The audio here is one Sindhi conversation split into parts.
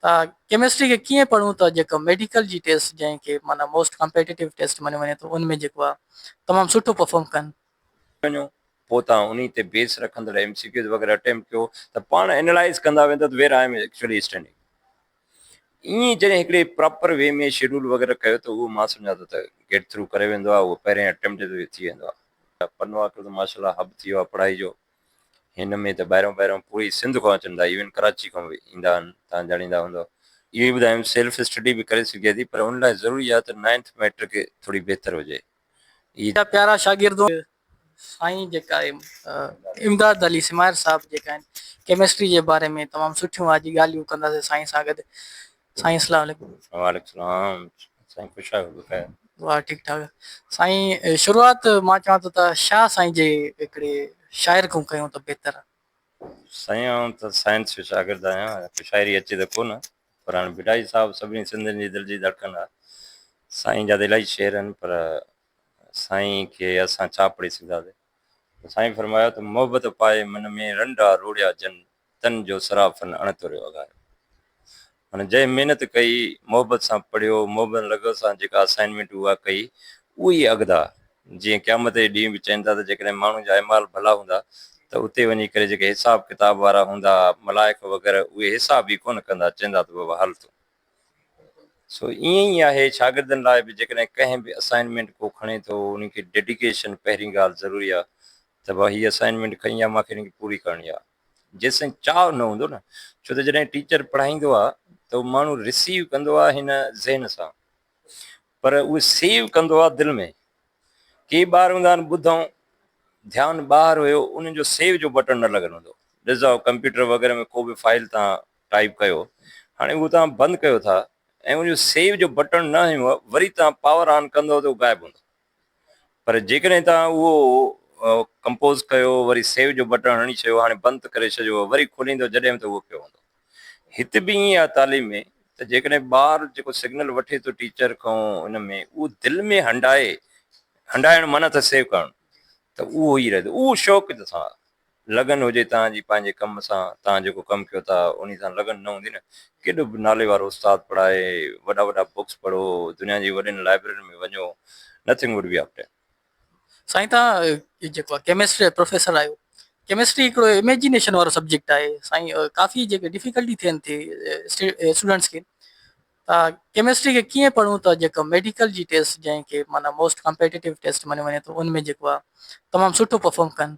ته ڪيمسٽري کي ڪيئن پڙهون ته جيڪا ميڊيڪل جي ٽيسٽ جنهن کي معنيٰ موسٽ ڪمپيٽيٽو ٽيسٽ مڃيو وڃي ٿو ان ۾ جيڪو آهي تمام سٺو پرفارم ڪن. وڃو پوء توهان انهي تي بيس رکندڙ ايم سي ڪيوز وغيره اٽيمپٽ ڪيو ته پاڻ اينالائز ڪندا ويندا ته where I am actually standing ائين جڏهن هڪڙي پراپر وي ۾ شيڊول وغيره ڪيو ته اهو مان سمجهان ٿو ته گيٽ ٿرو ڪري ويندو آهي اهو پهرين اٽيمپٽ تي ٿي ويندو آهي. پنهوا ڪيو ته ماشاء الله هب ٿي ويو آهي پڙهائي جو. هن ۾ ته ٻاهريان ٻاهريان پوري سنڌ کان اچن ٿا ايون ڪراچي کان به ايندا آهن توهان ڄاڻيندا هوندؤ اهو ئي ٻڌايم سيلف اسٽڊي به ڪري سگهجي ٿي پر ان لاء ضروري آهي ته نائنٿ مئٽرڪ ٿوري بهتر هجي عيد. منهنجا پيارا شاگردو سائين جيڪا امداد علي سمائر صاحب جيڪا آهن ڪيمسٽري جي باري ۾ تمام سٺيون آج ڳالهيون ڪنداسين سائين سان گڏ سائين اسلام عليڪم. وعليڪم سلام سائين خوش آيو بخير. واھ ٺيڪ ٺاڪ سائين شروعات مان چوان ٿو ته شاھ سائين جي هڪڙي شاعر کون ڪيون ته بهتر آ. سائين آئون ته سائنس جو شاگرد آهيان ته شاعري اچي ته ڪونه پر هاڻي ڀٽائي صاحب سڀني سنڌين جي دل جي ڌڙڪن آ سائين جا ته الاهي شعر آهن پر سائين کي اسان ڇا پڙهي سگهنداسين ته سائين فرمايو ته محبت پائي من ۾ رنڊا روڙيا جن تن جو صرافن اڻتوريو اگهايو. هن جنهن محنت ڪئي، محبت سان پڙهيو، محبن لغو سان جيڪا اسائنمينٽ هو اها ڪئي، اهو ئي اڳدا جيئن قيامت جي ڏينهن به چئين ٿا ته جيڪڏهن ماڻهن جا اعمال ڀلا هوندا ته اتي وڃي ڪري جيڪي حساب ڪتاب وارا هوندا ملائڪ وغيره اهي حساب ئي ڪونه ڪندا چئندا ته بابا هل تون سو ائين ئي آهي شاگردن لاء به جيڪڏهن ڪنهن به اسائنمينٽ ڪو کڻي ٿو ان کي ڊيڊيڪيشن پهرين ڳالهه ضروري آهي ته ڀا هي اسائنمينٽ کڻي آ مان کي ان کي پوري ڪرڻي آهي جيسين چاهه نه هوندو نه ڇو ته جڏهن ٽيچر پڙهائيندو آهي ته هو ماڻهو رسيو ڪندو آهي هن ذهن سان پر اهو سيو ڪندو آهي دل ۾ ڪي ٻار هوندا آهن ٻڌائون ڌيان ٻاهر هيو انهن جو سيو جو بٽڻ نه لڳل هوندو ڏسو ڪمپيوٽر وغيره ۾ ڪو به فائل تان ٽائيپ ڪيو هاڻي اهو توهان بند ڪيو ٿا ۽ ان جو سيو جو بٽڻ نه هنيو وري توهان پاور آن ڪندو ته اهو غائب هوندو پر جيڪڏهن توهان اهو ڪمپوز ڪيو وري سيو جو بٽڻ هڻي ڇڏيو هاڻي بند ته ڪري ڇڏيو وري کوليندو جڏهن به ته اهو پيو هوندو هت به ائين آهي تعليم ۾ ته جيڪڏهن ٻار جيڪو سگنل وٺي ٿو ٽيچر کان ان ۾ اهو دل ۾ هنڊائي هنڊائڻ معنيٰ ته سيو ڪرڻ ته اهو ئي رهندو اهو شوق ته سان لگن هجي توهان جي پنهنجي ڪم سان، توهان جيڪو ڪم ڪيو ٿا انهي سان لگن نه هوندي نه ڪيڏو به نالي وارو استاد پڙهائي، وڏا وڏا بوڪس پڙهو، دنيا جي وڏين لائبررين ۾ وڃو، Nothing would be up there. سائين توهان جيڪو ڪيمسٽري جا پروفيسر آهيو، ڪيمسٽري هڪڙو اميجنيشن وارو سبجيڪٽ آهي، سائين ڪافي جيڪي ڊفيڪلٽي ٿين ٿي اسٽوڊنٽس کي ته ڪيمسٽري کي ڪيئن پڙهون ته جيڪو ميڊيڪل جي ٽيسٽ جنهن کي معنيٰ موسٽ ڪمپيٽيٽو ٽيسٽ مڃيو وڃي ٿو ان ۾ جيڪو آهي تمام سٺو پرفارم ڪن.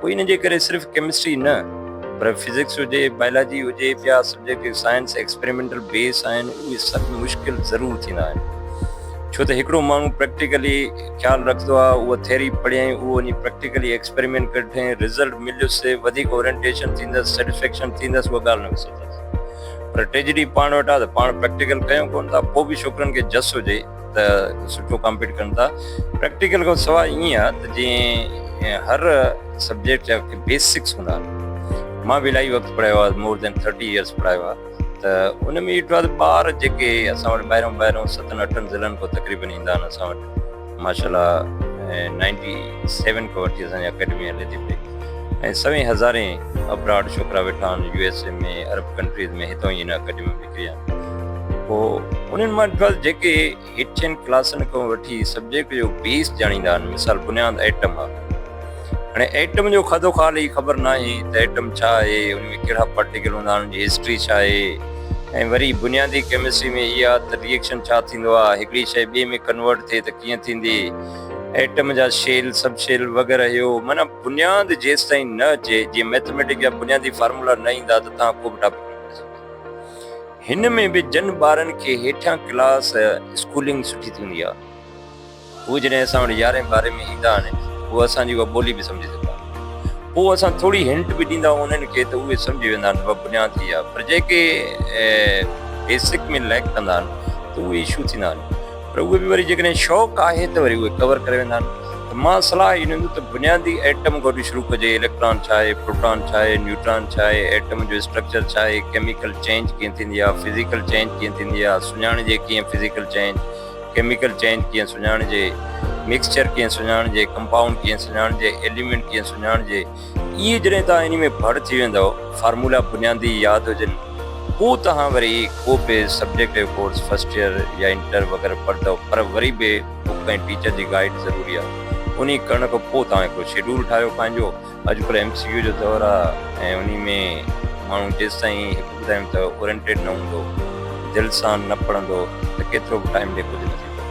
پوء ان جي ڪري صرف ڪيمسٽري نه پر فزڪس هجي، بائلاجي هجي، ٻيا سبجيڪٽ جيڪي سائنس ايڪسپريمينٽل بيس آهن اهي سڀ مشڪل ضرور ٿيندا آهن ڇو ته هڪڙو ماڻهو پريڪٽيڪلي خيال رکندو آهي اهو ٿيري پڙهيائين اهو وڃي پريڪٽيڪلي ايڪسپريمينٽ ڪري ڏٺائين رزلٽ مليس سي وڌيڪ اورينٽيشن ٿيندس سيٽسفيڪشن ٿيندس اها ڳالهه نه وسرجيس پر ٽريجڊي پاڻ وٽ آهي ته پاڻ پريڪٽيڪل ڪيون ڪونه ٿا پوء به ڇوڪرن کي جس هجي ته سٺو ڪامپيٽ ڪن ٿا پريڪٽيڪل کان سواء ائين آهي ته جيئن هر سبجيڪٽ جا بيسڪس هوندا آهن مان به الاهي وقت پڙهايو آهي مور دين ٿرٽي ايئرس پڙهايو آهي ته ان ۾ ڏٺو آهي ته ٻار جيڪي اسان وٽ ٻاهريون ٻاهريون ستن اٺن ضلعن کان تقريبن ايندا آهن اسان وٽ ماشاء الله نائنٽي سيون کان وٺي اسانجي اڪيڊمي هلي ٿي پئي ۽ سوين هزارين ابراڊ ڇوڪرا ويٺا آهن يو ايس اي ۾ عرب ڪنٽريز ۾ هتان ئي هن اڪيڊمي ڪريان پوء انهن مان ڪل جيڪي هيٺين ڪلاسن کان وٺي سبجيڪٽ جو بيس ڄاڻيندا آهن مثال بنياد ايٽم آهي هاڻي ايٽم جو کدو خال ئي خبر ناهي ته ايٽم ڇا آهي ان ۾ ڪهڙا پارٽيڪل هوندا آهن ان جي هسٽري ڇا آهي ۽ وري بنيادي ڪيمسٽري ۾ اها ته ريئڪشن ڇا ٿيندو آهي هڪڙي شيء ٻئي ۾ ڪنورٽ ٿئي ته ڪيئن ٿيندي ايٽم جا شيل سب شيل وغيره هيو معنيٰ بنياد جيستائين نه اچي جيئن ميٿميٽڪ جا بنيادي فارمولا نه ايندا ته توهان ڪو به ٽاپڪ نه پڙهي سگهندا. هن ۾ به جن ٻارن کي هيٺيان ڪلاس اسڪولنگ سٺي ٿيندي آهي هو جڏهن اسان وٽ يارهين ٻارهين ۾ ايندا آهن هو اسان جي اها ٻولي به سمجهي سگهندا آهن پوء اسان ٿوري هنٽ به ڏيندا آهيون انهن کي ته اهي سمجهي ويندا آهن اها بنياد هي آهي پر جيڪي بيسڪ ۾ ليڪ ڪندا آهن ته اهي اشو ٿيندا آهن پر اهي به وري جيڪڏهن شوق آهي ته وري اهي ڪور ڪري ويندا آهن ته مان صلاح اهي ڏيندس ته بنيادي ايٽم گڏ شروع ڪجي اليڪٽران ڇا آهي پروٽان ڇا آهي نيوٽران ڇا آهي ايٽم جو اسٽرڪچر ڇا آهي ڪيميڪل چينج ڪيئن ٿيندي آهي فزيڪل چينج ڪيئن ٿيندي آهي سڃاڻجي ڪيئن فزيڪل چينج ڪيميڪل چينج ڪيئن سڃاڻجي مڪسچر ڪيئن سڃاڻجي ڪمپائونڊ ڪيئن سڃاڻجي ايليمينٽ ڪيئن سڃاڻجي اهي جڏهن توهان انهي ۾ ڀڙ ٿي ويندؤ، فارمولا بنيادي ياد هجن، پوء توهان وري ڪو به سبجيڪٽ جو ڪورس فرسٽ يئر يا انٽر وغيره پڙهندؤ، پر وري به بڪ ۽ ٽيچر جي گائيڊ ضروري آهي. انهي ڪرڻ کان پوء توهان هڪڙو شيڊول ٺاهيو پنهنجو. اڄڪلهه ايم سي ڪيو جو دور آهي ۽ انهي ۾ ماڻهو جيستائين هڪ ٻڌايم ته اورينٽيڊ نه هوندو، دل سان نه پڙهندو ته ڪيترو به ٽائيم ڏي ڪجهه نه ٿيندو.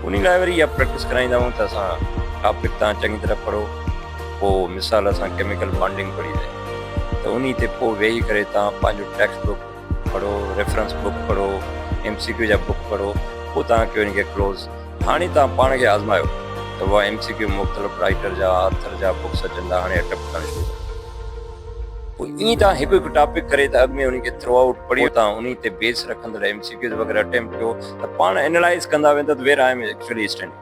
انهي لاء وري اها پريڪٽس ڪرائيندا آهيون ته اسان ٽاپڪ تان چڱي طرح پڙهو. پوء مثال اسان ڪيميڪل بانڊنگ پڙهي لئي ته انهي تي پوء ويهي ڪري توهان پنهنجو ٽيڪسٽ بڪ پڙهو ريفرنس بڪ پڙهو ايم سي ڪيو جا بڪ پڙهو پوء توهان ڪيو ان کي ڪلوز هاڻي توهان پاڻ کي آزمايو ته اها ايم سي ڪيو مختلف رائيٽر جا آٿر جا بڪس اچن ٿا هاڻي اٽيمپٽ ڪرڻ شروع ڪريو پوء ائين توهان هڪ هڪ ٽاپڪ ڪري ته اڳ ۾ انهي کي ٿرو آئوٽ پڙهيو پوء توهان انهي تي بيس رکندڙ ايم سي ڪيوز وغيره اٽيمپٽ ڪيو ته پاڻ انالائز ڪندا ويندا ته where I am actually standing.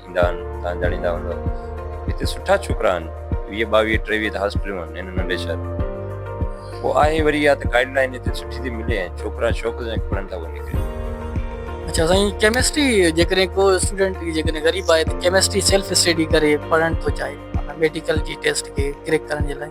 ٿيندا آهن توهان ڄاڻيندا هوندؤ هتي سٺا ڇوڪرا آهن ويهه ٻاويهه ٽيويهه ته هاسپيٽلون آهن هن ننڍي شهر ۾ پوء آهي وري اها ته گائيڊ لائين هتي سٺي ٿي ملي ۽ ڇوڪرا شوق سان پڙهن ٿا اهو نڪري اچا سائين ڪيمسٽري جيڪڏهن ڪو اسٽوڊنٽ جيڪڏهن غريب آهي ته ڪيمسٽري سيلف اسٽڊي ڪري پڙهڻ ٿو چاهي ميڊيڪل جي ٽيسٽ کي ڪريڪ ڪرڻ جي لاء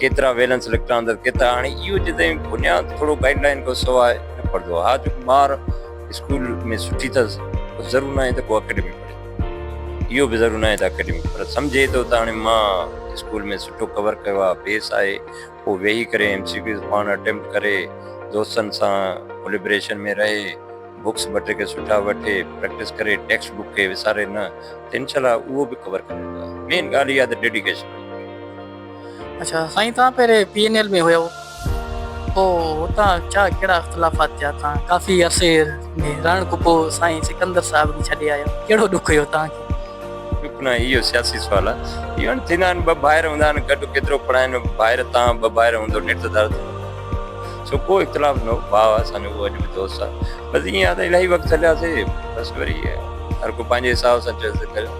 ڪيترا ويلنس اليڪٽران اندر ڪيترا هاڻي اهو جي تائين بنياد ٿورو گائيڊ لائين کان سواء نه پڙهندو ها جو ٻار اسڪول ۾ سٺي اٿس ضرور ناهي ته ڪو اڪيڊمي پڙهي اهو به ضرور ناهي ته اڪيڊمي پر سمجهي ٿو ته هاڻي مان اسڪول ۾ سٺو ڪور ڪيو آهي بيس آهي پوء ويهي ڪري ايم سي ڪيوز پاڻ اٽيمپٽ ڪري دوستن سان ڪوليبريشن ۾ رهي بڪس ٻه ٽي کي سٺا وٺي پريڪٽس ڪري ٽيڪسٽ بڪ کي وساري نه ته انشاء الله اهو به ڪور ڪري ويندو مين ڳالهه اها ته ڊيڊيڪيشن اڇا سائين توهان پهرين پي اين ايل ۾ هيو پوء اتان ڇا ڪهڙا اختلافات ٿيا توهان ڪافي عرصي ۾ رهڻ کان پوء سائين سڪندر صاحب کي ڇڏي آيو ڪهڙو ڏک هيو توهان کي. ڏک نه اهو سياسي سوال آهي اهو هن ٿيندا آهن ٻه ڀائر هوندا آهن گڏ ڪيترو پڙهائين ڀائر تان ٻه ڀائر هوندو نيٺ ته ڌر ٿيندو آهي سو ڪو اختلاف نه هو ڀاء آهي اسان جو اهو اڄ به دوست آهي بس ائين آهي ته الاهي وقت هلياسي بس وري هر ڪو پنهنجي حساب سان چويس ته ڪريو.